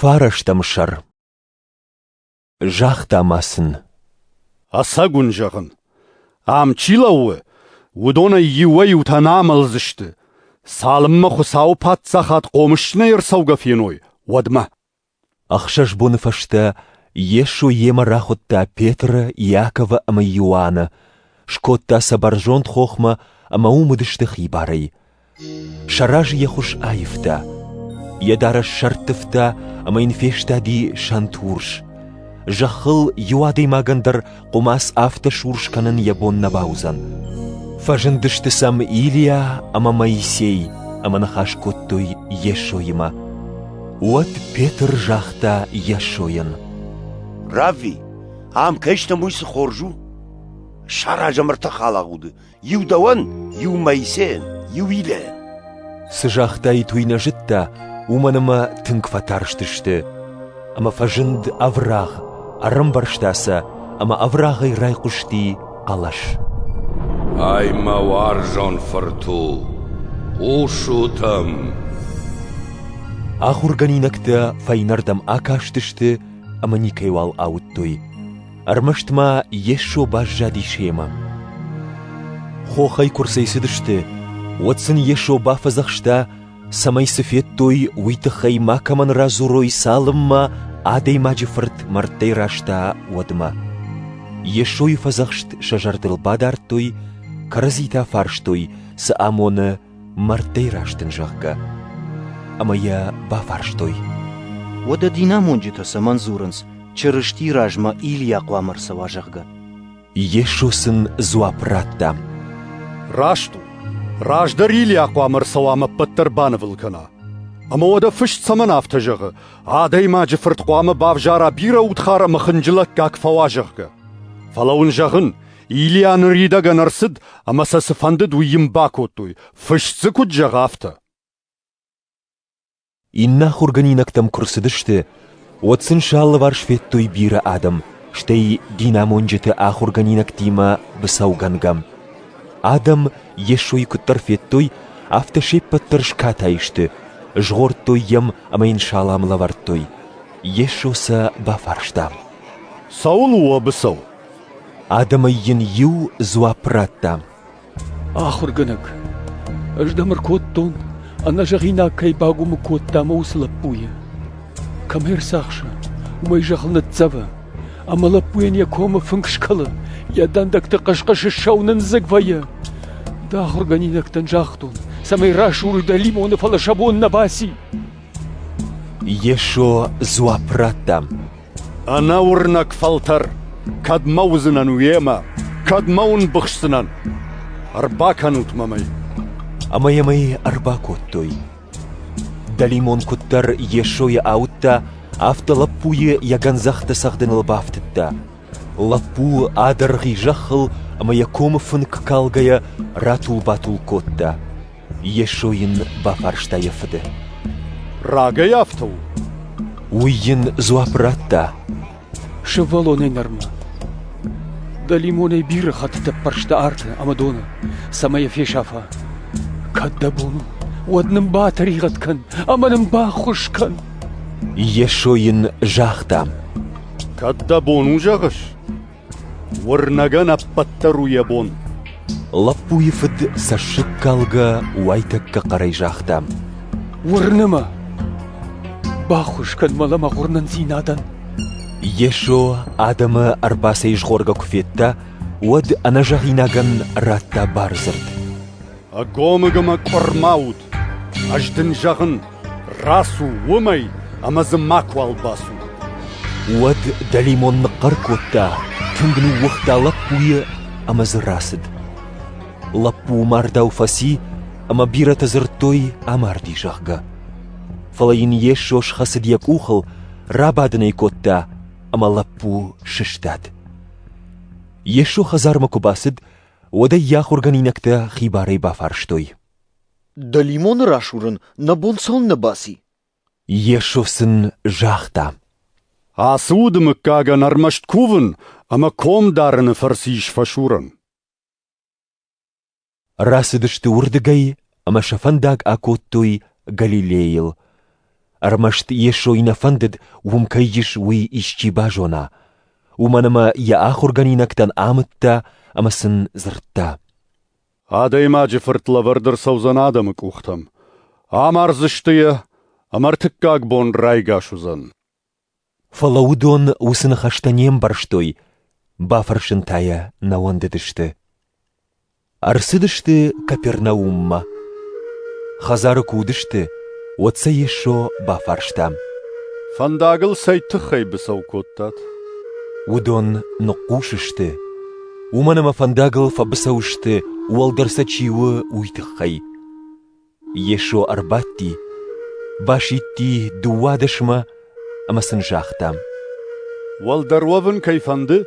Фарӕстӕм сӕр Загъта ма сын. Ӕцӕг уын зӕгъын, ам чи лӕууы, уыдонӕй иуӕй-иутӕ нӕ амӕлдзысты, цалынмӕ Хуыцауы Паддзахад хъомыс нӕ ӕрцӕугӕ феной, уӕдмӕ. Ӕхсӕз боны фӕстӕ Йесо йемӕ рахуыдта Петры, Иаковы ӕмӕ Иоанны, скодта сӕ бӕрзонд хохмӕ ӕмӕ уым уыдысты хибарӕй. Сӕ разы йӕ хуыз аивта, йӕ дарӕс сӕрттывта ӕмӕ йын фестади сӕнтурс. Зӕххыл иу адӕймагӕн дӕр хъуымац афтӕ сурс кӕнын йӕ бон нӕ бауыдзӕн. Фӕзындысты сӕм Илиа ӕмӕ Моисей ӕмӕ ныхас кодтой Йесоимӕ. Уӕд Петр загъта Йесойӕн: «Равви, ам кӕй стӕм, уый цы хорз у? Саразӕм ӕртӕ халагъуды, иу дӕуӕн, иу Моисейӕн, иу Илӕйӕн. Цы загътаид, уый нӕ зыдта, уымӕн ӕмӕ тынг фӕтарстысты. Ӕмӕ фӕзынд ӕврагъ, ӕрӕмбӕрзта сӕ ӕмӕ ӕврагъӕй райхъуысти хъӕлӕс. Ай мӕ уарзон фырт у, хъусут ӕм! Ахуыргӕнинӕгтӕ фӕйнӕрдӕм акастысты ӕмӕ никӕйуал ауыдтой. Ӕрмӕст ма Йесо баззади семӕ. Хохӕй куы рцӕйцыдысты, уӕд сын Йесо бафӕдзӕхста, цӕмӕй цы федтой, уый тыххӕй макӕмӕн радзурой, цалынмӕ Адӕймаджы Фырт мӕрдтӕй раста, уӕдмӕ. Йесойы фӕдзӕхст сӕ зӕрдыл бадардтой, кӕрӕдзи та фарстой, цы амоны мӕрдтӕй раст ын, зӕгъгӕ. Ӕмӕ йӕ бафарстой. Уӕдӕ динамонджытӕ цӕмӕн дзурынц, Чырыстийы размӕ Илийа хъуамӕ ӕрцӕуа, зӕгъгӕ? Йесо сын дзуапп радта. Раст у. Раздӕр Илийа хъуамӕ ӕрцӕуа ӕмӕ ӕппӕт дӕр банывыл кӕна. Ӕмӕ уӕдӕ фыст цӕмӕн афтӕ зӕгъы, адӕймаджы фырт хъуамӕ бавзара бирӕ удхар ӕмӕ хынджылӕггаг фӕуа, зӕгъгӕ? Фӕлӕ уын зӕгъын, Илья ныридӕгӕн ӕрцыд ӕмӕ сӕ цы фӕндыд, уый йын бакодтой, фыст дзы куыд зӕгъа, афтӕ. Иннӕ ахуыргӕнинӕгтӕм куы рцыдысты, уӕд сын сӕ алыварс федтой бирӕ адӕм, стӕй динамонджыты ахуыргӕнинӕгтимӕ быцӕугӕнгӕ. Адӕм Йесойы куыддӕр федтой, афтӕ се ппӕт дӕр скатай сты, згъордтой йӕм ӕмӕ йын салам лӕвӕрдтой. Йесо сӕ бафарста. «Цӕуыл у уӕ быцӕу?» Адӕмӕй йын иу дзуапп радта. Ахуыргӕнӕг, ӕз дӕм ӕркодтон, ӕнӕзӕгъинаг кӕй багуымӕ кодта мӕ уыцы лӕппуйы. Кӕм ӕрцахсы, уымӕй зӕххыл ныццӕвы, ӕмӕ лӕппуйӕн йӕ комы фынг скӕлы, йӕ дӕндӕгты хъыс-хъысы сау нындзыг вӕййы. Дӕ ахуыргӕнинӕгтӕн загътон, цӕмӕй рӕсугъд лимоны, фӕлӕ сӕ бон нӕ баци. Йесо дзуапп радта. Ӕнӕуырнӕг фӕлтӕр кӕдмӕ уыдзынӕн уемӕ, кӕдмӕ уын быхсдзынӕн? Ӕрбакӕнут мӕм ӕй. Ӕмӕ йӕм ӕй ӕрбакодтой. Дӕлимон куыддӕр Йесойы ауыдта, афтӕ лӕппуйы йӕ гӕндзӕхтӕ цӕгъдыныл бафтыдта. Лӕппу адӕргъи зӕххыл ӕмӕ йӕ комы фынк калгӕйӕ ратул-батул кодта. Йесо йын бафарста йӕ фыды. Рагӕй афтӕ у? Уый йын дзуапп радта. Сывӕллонӕй нырмӕ дӕлимонӕй бирӕ хӕттытӕ ппӕрста арты ӕмӕ доны, цӕмӕй йӕ фесафа. Кӕд дӕ бон у, уӕд нын батӕригъӕд кӕн ӕмӕ нын баххуыс кӕн. Йесо йын загъта. Кӕд дӕ бон у зӕгъыс? Уырнӕгӕн ӕппӕтдӕр у йӕ бон. Лӕппуйы фыд цӕссыгкалгӕ уайтӕккӕ хъӕрӕй загъта: Уырны мӕ! Баххуыс кӕн мӕ лӕмӕгъ уырнындзинадӕн! Йесо адӕмы ӕрбацӕйзгъоргӕ куы федта, уӕд ӕнӕзӕгъинагӕн радта бардзырд. Ӕгомыгӕмӕ къуырма ут, ӕз дын зӕгъын, рацу уымӕй ӕмӕ дзы макуал бацу. Уӕд дӕлимон ныхъхъӕр кодта, тынг ныууыгъта лӕппуйы ӕмӕ дзы рацыд. Лӕппу мардау фӕци, ӕмӕ бирӕтӕ дзырдтой, амарди, зӕгъгӕ. Фӕлӕ йын Йесо схӕцыд йӕ къухыл, рабадын ӕй кодта, ӕмӕ лӕппу сыстад. Йесо хӕдзармӕ куы бацыд, уӕд ӕй йӕ ахуыргӕнинӕгтӕ хибарӕй бафарстой. — Дӕлимоны расурын нӕ бон цалынмӕ баци? Йесо сын загъта. — Ацы уды мыггагӕн ӕрмӕст кувын ӕмӕ ком дарыны фӕрцы ис фӕсурӕн. Рацыдысты уырдыгӕй ӕмӕ сӕ фӕндаг акодтой Галилейыл. Ӕрмӕст Йесой нӕ фӕндыд, уым кӕй ис, уый исчи базона. Уымӕн ӕмӕ йӕ ахуыргӕнинӕгтӕн амыдта ӕмӕ сын дзырдта. Адӕймаджы фырт лӕвӕрд ӕрцӕудзӕн адӕмы къухтӕм. Амардзысты йӕ, ӕмӕ ӕртыккаг бон райгас уыдзӕн. Фӕлӕ уыдон уыцы ныхӕстӕ не мбӕрстой, бафӕрсын та йӕ нӕ уӕндыдысты. Ӕрцыдысты Капернауммӕ. Хӕдзары куы уыдысты, уӕд сӕ Йесо бафарста. «Фӕндагыл цӕй тыххӕй быцӕу кодтат?» Уыдон ныхъхъус сты, уымӕн ӕмӕ фӕндагыл фӕбыцӕу сты, уӕлдӕр сӕ чи у, уый тыххӕй. Йесо ӕрбадти, басидти дыууадӕсмӕ ӕмӕ сын загъта: «Уӕлдӕр уӕвын кӕй фӕнды,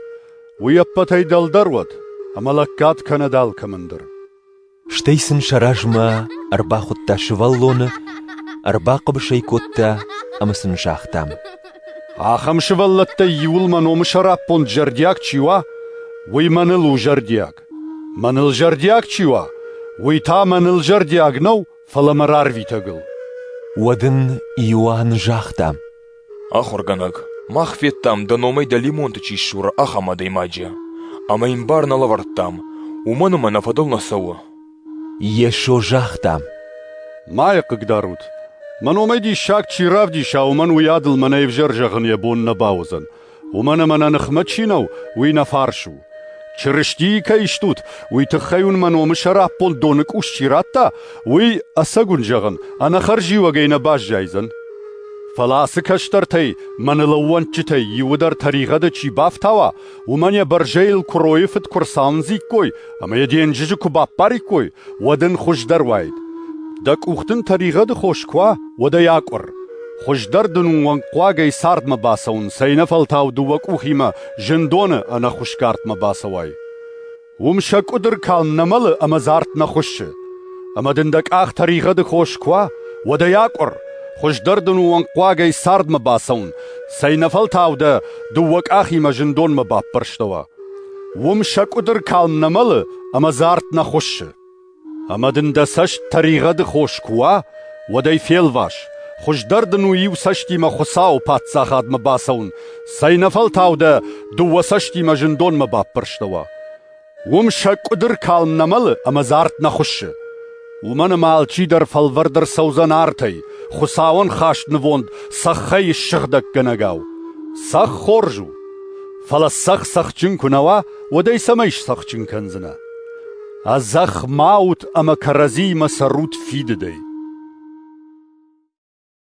уый ӕппӕтӕй дӕлдӕр уӕд, ӕмӕ лӕггад кӕнӕд алкӕмӕн дӕр». Стӕй сын сӕ размӕ ӕрбахуыдта сывӕллоны, ӕрбахъӕбыс ӕй кодта ӕмӕ сын загъта: «Ахӕм сывӕллӕттӕй иуыл мӕ номы сӕраппонд зӕрдиаг чи уа, уый мӕныл у зӕрдиаг. Мӕныл зӕрдиаг чи уа, уый та мӕныл зӕрдиаг нӕу, фӕлӕ мӕ рарвитӕгыл. Уӕд ын Иоанн загъта: Ахуыргӕнӕг, мах федтам, дӕ номӕй дӕлимонты чи ссуры, ахӕм адӕймаджы. Ӕмӕ йын бар нӕ лӕвӕрдтам, уымӕн ӕмӕ нӕ фӕдыл нӕ цӕуы. Йесо загъта: Ма йӕ хъыгдарут. Мӕ номӕй диссаг чи равдиса, уымӕн уый адыл мӕнӕ ӕвзӕр зӕгъын йӕ бон нӕ бауыдзӕн. Уымӕн ӕмӕ нӕ ныхмӕ чи нӕу, уый нӕ фарс у. Чырыстийы кӕй стут, уый тыххӕй уын мӕ номы сӕраппонд доны къус чи радта, уый, ӕцӕгуын зӕгъын, ӕнӕхӕрзиуӕгӕй нӕ баззайдзӕн. Фӕлӕ ацы кӕстӕртӕй, мӕнӕ лӕууӕнчытӕй иуыдӕр тӕригъӕды чи бафтауа, уымӕн йӕ бӕрзӕйыл куыройы фыд куы ӕрцауындзиккой ӕмӕ йӕ денджызы куы баппариккой, уӕд ын хуыздӕр уаид. Дӕ къух дын тӕригъӕды хос куы уа, уӕд ӕй акъуыр. Хуыздӕр дын уӕнгхъуагӕй цардмӕ бацӕуын, цӕйнӕфӕлтау дыууӕ къухимӕ зындоны ӕнӕхуысгардмӕ бацӕуай. Уым сӕ къуыдыр калм нӕ мӕлы ӕмӕ зард нӕ хуыссы. Ӕмӕ дын дӕ къах тӕригъӕды хос куы уа, уӕд ӕй акъуыр, хуыздӕр дын уӕнгхъуагӕй цардмӕ бацӕуын, цӕйнӕфӕлтау дӕ дыууӕ къахимӕ зындонмӕ баппӕрстӕуа. Уым сӕ къуыдыр калм нӕ мӕлы ӕмӕ дзы арт нӕ хуыссы. Ӕмӕ дын дӕ цӕст тӕригъӕды хос куы уа, уӕд ӕй фелвас, хуыздӕр дын у иу цӕстимӕ Хуыцауы Паддзахадмӕ бацӕуын, цӕйнӕфӕлтау дӕ дыууӕ цӕстимӕ зындонмӕ баппӕрстӕуа. Уым сӕ къуыдыр калм нӕ мӕлы ӕмӕ дзы арт нӕ хуыссы. Уымӕн ӕмӕ алчидӕр фӕлвӕрд ӕрцӕудзӕн артӕй, Хуыцауӕн хаст нывонд цӕххӕй ссыгъдӕггӕнӕгау. Цӕхх хорз у, фӕлӕ цӕхх цӕхджын куы нӕ уа, уӕд ӕй цӕмӕй сцӕхджын кӕндзынӕ? Ӕдзӕхх ма ут ӕмӕ кӕрӕдзиимӕ цӕрут фидыдӕй.